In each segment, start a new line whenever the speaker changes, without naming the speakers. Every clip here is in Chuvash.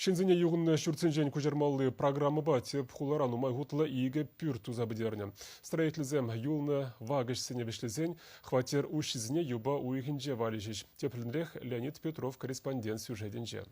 Ҫынсене юхӑннӑ ҫуртсенчен куҫармалли программӑпа тӗп хулара нумай хутлӑ икӗ пӳрт туса пӗтернӗ. Строительсем юлнӑ вак ӗҫсене вӗҫлесен хваттер уҫҫисене юпа уйӑхӗнче валеҫӗҫ. Тепринрех Леонид Петров корреспондент сюжетӗнче.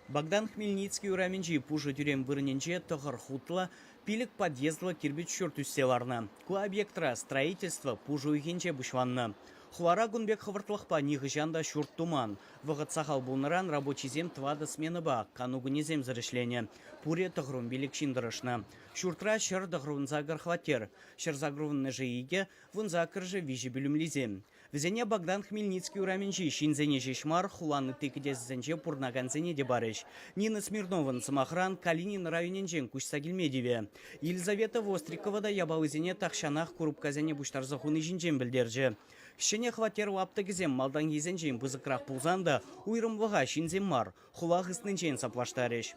Богдан Хмельницкий урамӗнчи пушӑ тӳрем вырӑнӗнче тӑхӑр хутлӑ, пилӗк подъездлӑ кирпӗч ҫурт ӳссе ларнӑ. Ку объектра строительство пуш уйӑхӗнче пуҫланнӑ. Хулара кун пек хӑвӑртлӑхпа нихӑҫан та ҫурт туман. Вӑхӑт сахал пулнӑран рабочисем тӑватӑ сменӑпа кану кунӗсемсӗр ӗҫленӗ. Пурӗ тӑхрум пилӗк ҫын тӑрӑшнӑ. Ҫуртра ҫӗр тӑхрун сакӑр хваттер, ҫӗр сакрувннӑшӗ икӗ, вун саккӑршӗ виҫӗ пӳлӗмлисем. Вӗсене Богдан Хмельницкий урамӗнчи ҫынсене ҫеҫ мар, хулан ытти кӗтесӗсенче пурӑнакансене те парӗҫ. Нина Смирнован, сӑмахран, Калинин районӗнчен куҫса килме тивӗ. Елизавета Вострикова та япалисене тахҫанах курупкасене пуҫтарса хуни ҫинчен пӗлтерчӗ. Ҫӗнӗ хваттер лаптӑкӗсем малтанхисенчен пысӑкрах пулсан та уйрӑмлӑха ҫынсем мар, хула хыснинчен саплаштарӗҫ.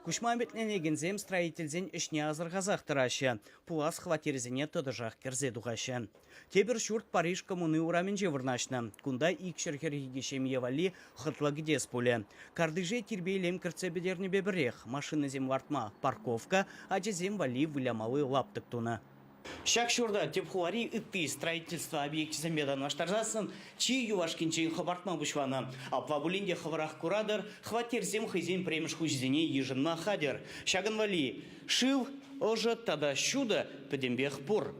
Куҫма ӗмӗтленекенсем строительсен ӗҫне асӑрхасах тӑраҫҫӗ, пулас хваттерсене тӑтӑшах кӗрсе тухаҫҫӗ. Тепӗр ҫурт Париж коммуни урамӗнче вырнаҫнӑ. Кунта икҫӗр хӗрхи ҫемье валли хӑтлӑ кӗтес пулӗ. Картише тирпейлем кӗртсе пӗтернӗпе пӗрех машинӑсем лартма парковка, ачасем валли вылямалли лаптӑк тунӑ. Ҫак ҫурта тӗп хулари ытти строительство объекчӗсемпе танлаштарсассӑн чи юлашкинчен хӑпартма пуҫланӑ. Апла пулин те хӑвӑрах куратӑр, хваттерсем хӑйсен пӗрремӗш хуҫисене йышӑнма хатӗр. Ҫакӑн валли шыв, ӑшӑ тата ҫутӑ пӗтӗмпех пур.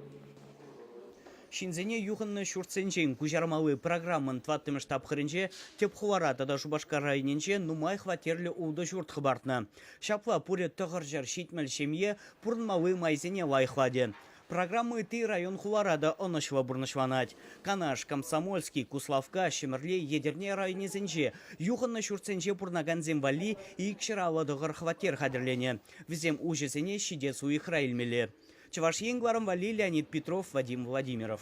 Ҫынсене юхӑннӑ ҫуртсенчен куҫармалли программӑн тӑваттӑмӗш тапхӑрӗнче тӗп хулара тата Шупашкар районӗнче нумай хваттерлӗ ултӑ ҫурт хӑпартнӑ. Ҫапла пурӗ тӑхӑрҫӗр ҫитмӗл ҫемье пурӑнмалли майсене лайӑхлатӗ. Программа ытти район-хулара та ӑнӑҫлӑ пурнӑҫланать. Канаш, Комсомольски, Куславкка, Ҫӗмӗрле, Етӗрне районӗсенче юхӑннӑ ҫуртсенче пурӑнакансем валли икҫӗр аллӑ тӑхӑр хваттер хатӗрленӗ. Вӗсем уҫӑсене ҫитес уйӑхра илмелле. Чӑваш Ен кӑларӑм валли Леонид Петров, Вадим Владимиров.